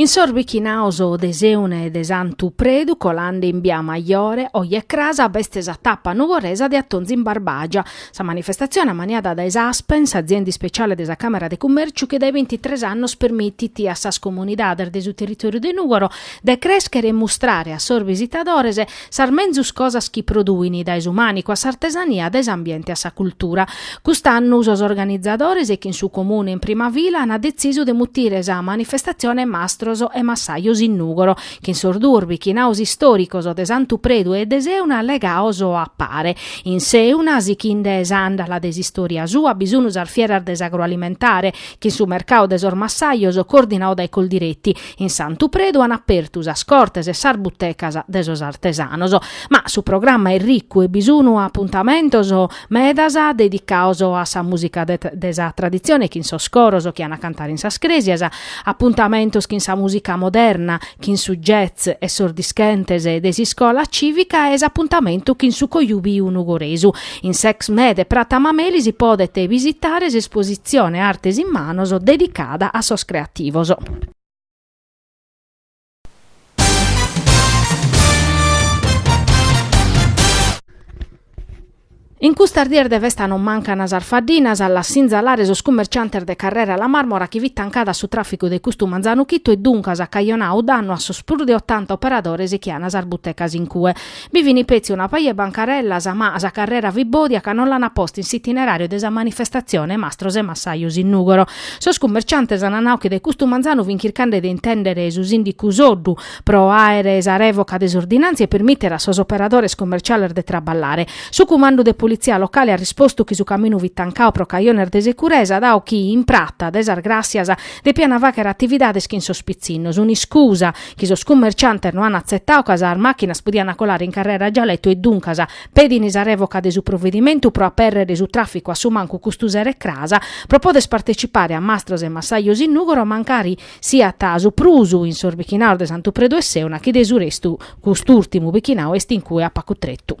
In sos bichinaos de Sèuna e de Santu Predu, colande in bia Majore, oje e crasa, b'est sa tapa nugoresa de Atonzu in Barbàgia. Sa manifestatzione ammaniada dae s'Aspen, s'azienda ispetziale de sa Càmera de Cummèrciu chi dae binti tres annos permitit a sas comunidades de su territòriu de Nùgoro de crèschere e mustrare a sos bisitadores sas menzus cosas chi produin, dae su mànicu a s'artesania, dae s'ambiente a sa cultura. Cust'annu sos organizadores chin su Comune in prima fila ant detzisu de mutire sa manifestatzione Mastros e Massajos in Nùgoro, chin sos duos bichinaos istòricos de Santu Predu e de Sèuna legaos a pare. In Sèuna, sichinde s'àndala de s'istòria sua bi sun sas fieras de s'agroalimentare, chin su mercadu de sos massajos coordinau dae Coldiretti, In Santu Predu an apertu sas cortes e sas butecas de sos artesanos, ma su programma est ricu e bi sun apuntamentos medas dedicaos a sa mùsica de sa traditzione chin sos coros chi an a cantare in sas crèsias, apuntamentos chin sa mùsica moderna, chin su jazz e sos dischentes de s'iscola cìvica e s'apuntamentu chin su Cojùbiu Nugoresu. In s'ExMè de Prata Mameli si podet bisitare s'espositzione Artes in manos dedicada a sos creativos. In custas dies de festa non mancan sas faddinas, a las sinzalare sos cummerciantes de Carrera La Marmora chi fit tancada a su tràficu de custu manzanu chitu e duncas at cajonau dannu a sos prus de otanta operadores chi an sas butecas in cue. Bi fini petzi una paja 'e bancarellas, ma sa carrera fit bòdia ca no l'ana posta in s'itineràriu de sa manifestatzione Mastros e Massajos in Nùgoro. Sos cummerciantes ana nau chi de custu manzanu fin chircande de intèndere su sìndicu Soddu pro àere sa rèvoca de s'ordinàntzia e permìtere a sos operadores cummerciales de traballare. Su cumandu de politzia locale at rispostu chi su caminu fit tancau pro cajones de securesa, dau chi in Prata de sas Gràssias depiana fàghere atividades chin sos pitzinnos, un'iscusa chi sos cummerciantes no an atzetau ca sas màchinas podian colare in carrera Gialetu e duncas pedin sa rèvoca de su provedimentu pro apèrrere su tràficu a su mancu custu sero e cras pro poder partecipare a Mastros e Massajos in Nùgoro mancari siat su prus in sos bichinaos de Santu Predu e Sèuna chi de su restu cust'ùrtimu bichinau est in cue a pacu tretu.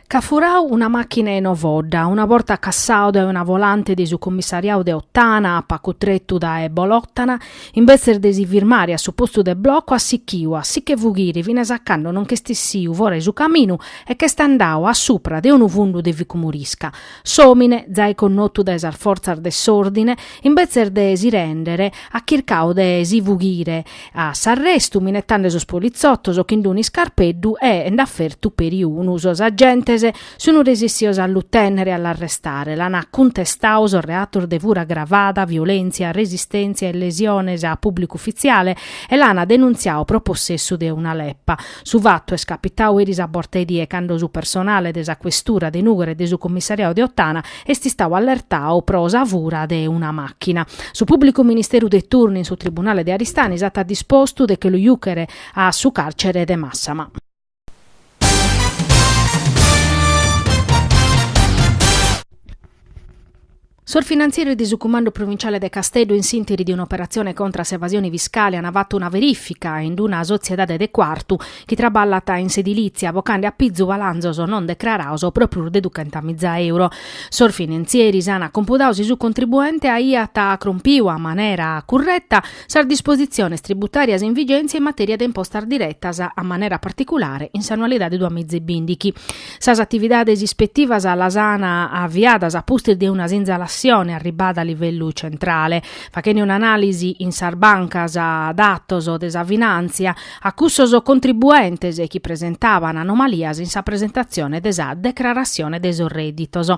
Ch'at furau una màchina in Ovodda, una borta cassau dae una volante de su commissariau de Ottana a pacu tretu dae Bolòtana, imbetzes de si firmare a su postu de blocu at sichiu a si che fughire finas a cando non ch'est issiu fora 'e su caminu e ch'est andau a supra de unu fundu de ficumorisca. S'òmine, zai connotu dae sas fortzas de s'òrdine, imbetzes de si rèndere, at chircau de si fughire a s'arrestu minetande sos politzotos chin d'unu iscarpeddu e nd'at fertu peri unu. Sos agentes sun resessios a lu tènnere e a l'arrestare, l'an cuntestau sos reatos de fura agravada, violèntzia, resistèntzia e lesiones a pùblicu ufitziale e l'an denuntziau pro possessu de una leppa. Su fatu est capitau eris a borta 'e die cando su personale de sa questura de Nùgoro e de su commissariau de Ottana est istau allertau pro sa fura de una màchina. Su pùblicu ministeru de turnu in su tribunale de Aristanis at dispostu de che lu jùchere a su càrcere de Màssama. Sos finantzieris de su Cumandu Provinciale de Casteddu in s'interi de un'operatzione contra a s'evasione fiscale an fatu una verifica in una sotziedade de Cuartu chi traballat in s'edilìtzia bocande a pizu balanzos non decraraos pro prus de duchenta miza euro. Sos finantzieris an cumpudau si su contribuente aiat crompiu a manera curreta Sas dispositziones tributàrias in vigèntzia in matèria de impostas diretas, a manera particulare in s'annualidade duas miza e bìndichi. Sas atividades ispetivas las an aviadas a pustis de una sinzalassione arribbada a livellu centrale, faghende un'anàlisi in sas bancas datos de sa finàntzia a cussos contribuentes chi presentaban anomalias in sa presentatzione de sa decrarassione de sos rèdditos.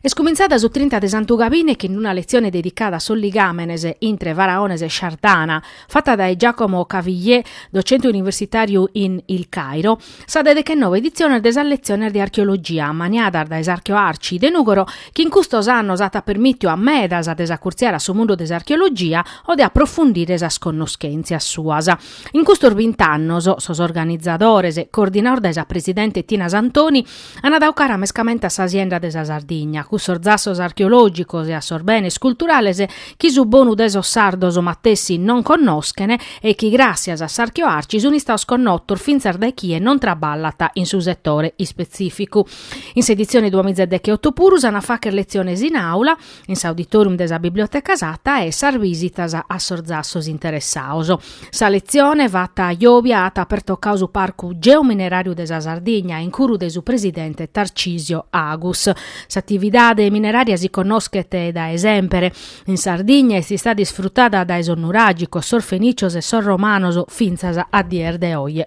Est cumintzada su trinta de Santu Gabine chin una letzione dedicada a sos ligàmenes intre Faraones e Sciardana, fata dae Giacomo Cavillier, docente universitàriu in Il Cairo. sa de dechennove editziones de sas letziones de archeologia, ammaniadas dae s'Archeoarci de Nùgoro, chi in custos annos at permìtiu a medas de s'acurtziare a su mundu de s'archeologia o de aprofundire sas connoschèntzias suas. In custos bint'annos sos organizadores, coordinados dae sa presidente Tina Santoni, an dau cara mescamente a sa sienda de sa Sardigna, cussos zassos archeològicos e a sos benes culturales chi su bonu de sos sardos matessi non connoschen e chi gràssias a s'Archeoarci sun istaos connotos fintzas dae chie non traballat in su setore ispetzìficu. In s'editzione duamiza e deche oto puru s'an a fàchere letziones in àula, in s'auditorium de sa Biblioteca Sata e sas bisitas a sos zassos interessaos. Sa letzione fatta jòvia at pertocau su Parcu Geomineràriu de sa Sardigna in curu de su presidente Tarcisio Agus. S'atividade minerària si connoschet dae semper in Sardigna e est istada isfrutada dae sos nuràgicos, sos fenìcios e sos romanos fintzas a dies de oje.